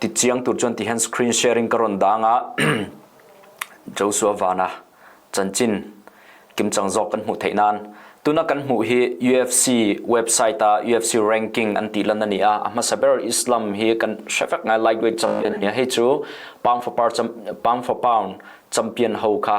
Ti ciang tur chuan tihin screen sharing ka ron daang ah Joshua Vana chanchin kimcang zawk kan hmuh theih nan tuna kan hmuh hi UFC website a UFC ranking an ti lan ani a a hmasa ber Islam hi kan hre vek ngai lightweight champion ni hei chu pound for pound champion ho kha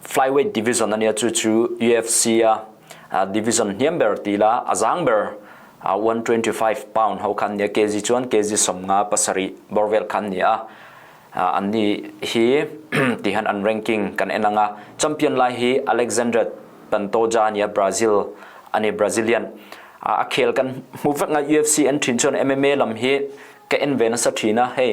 flyweight division ani chu chu UFC a division hniam ber ti la a zang ber 125 pound ho khan ne kg chuan kg somnga pasari borvel khan ni a an ni hi ti han an ranking kan enanga champion lai hi Alexander Pantoja nia Brazil ani Brazilian a khel kan mu vek nga UFC an thin chuan MMA lam hi ka en ve na sa thina hei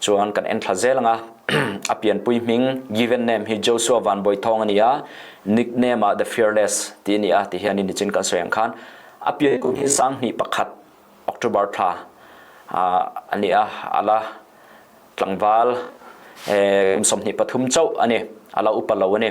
Chuan kan enthla zel nga a pianpui hming given name hi Joshua Van Boi Thong ani a nickname ah the fearless ti ni a ti hi ani nichin kan soyang khan a pianpui hi sang hni pakhat October thla ani a ala tlangval kum som hni pathum chau ani ala upa lo ani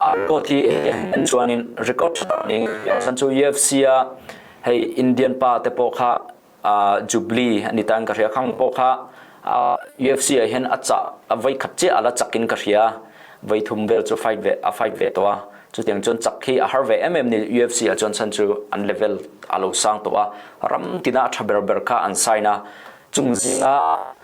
Kawhti an chuan in record ding san cu UFC ah hei Indian pa te paw kha Jubilee an i tan ka hria khang paw kha UFC ah hin a cah a voi khat cia ala chak in ka hria voi thum vel cu fight ve a fight ve to a cu tiang cun chak khi a har ve em em ni UFC ah cun san cu an level alo sang to a ram tina tha ber ber kha an sign a chung zinga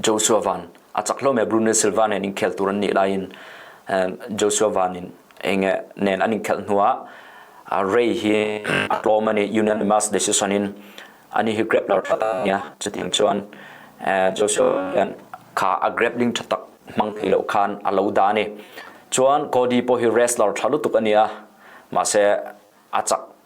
Joshua Van a chak hlawm e Bruno Silva nen in khel tur an nih lai in Joshua Van in enge nen an in khel hnu ah Ray hi a tlawm ani unanimous decision in ani hi grab lar that nia chutiang chuan Joshua hian kha a grab ling tha tak mang thei lo khan a lo da ni chuan Cody pawh hi wrestler tha lutuk ani a mahse a chak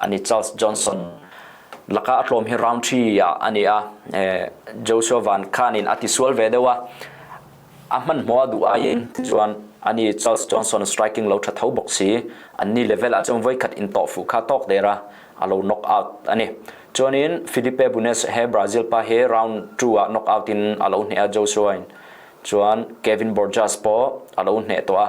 An i Charles Johnson laka a tlawm hi round 3 ah ani a Joshua Van Khan in a ti sual ve deuh a a hman hma du aiin chuan ani Charles Johnson striking lo tha tho bawk si an ni level a chung voi khat in to fu kha tok dera a lo knock out ani chuanin Felipe Bunes he Brazil pa he round 2 ah knock out in a lo hne a Joshua in chuan Kevin Borjas po a lo hne to a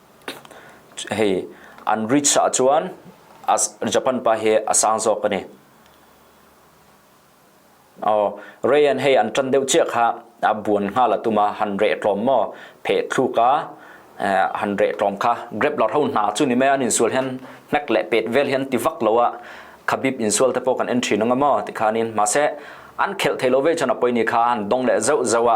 hei an reach ahcun Japan pa hi a sang zawk ani. Oh, Rayan hei an tan deuh cia kha a buan nga la tuma han re tlom mo phe thlu ka han re tlom kha grab la hau na chu ni me an in sul hen nek le pet vel hen ti vak lo a khabib in sul te po kan entry nanga mo ti khanin ma se an khel thei lo ve chana poi ni kha an dong le zau zawa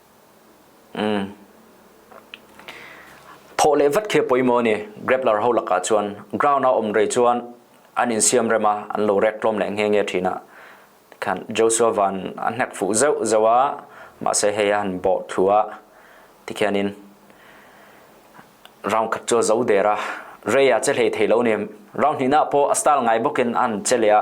Thawh le vat khi a poi maw ni grappler ho lakah chuan ground a um rei chuan an in siam rem a an lo rek tlawm le nge nge thin a khan Joshua van an hnek fu zeu zeu a ma se hei han bo thu a ti khianin round khat chu zo der a rei a che hlei thei lo ni round hnih na pawh a style ngai bawkin an che le a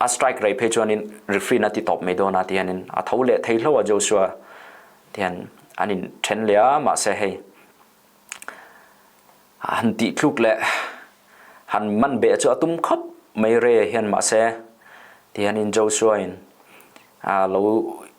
a strike rei phe chuan in referee na ti top me do na ti an in a tho le thei hlo a Joshua tian an in then le a ma se hei han ti thluk le han man be chu atum khop mai re hian ma se tian in Joshua in a lo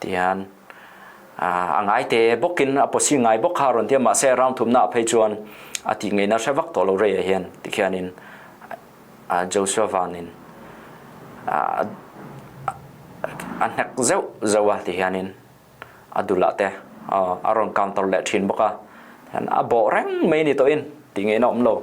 tian a ngai te bok in a posi ngai bok ha ron tiam ma se rang thum na phei chuan a ti ngai na hre vak to lo re hian ti khian in Joshua van in a hnek zeu zewa ti hian in a dula te a ron counter le thin boka a bo reng mai ni to in ti ngai na om lo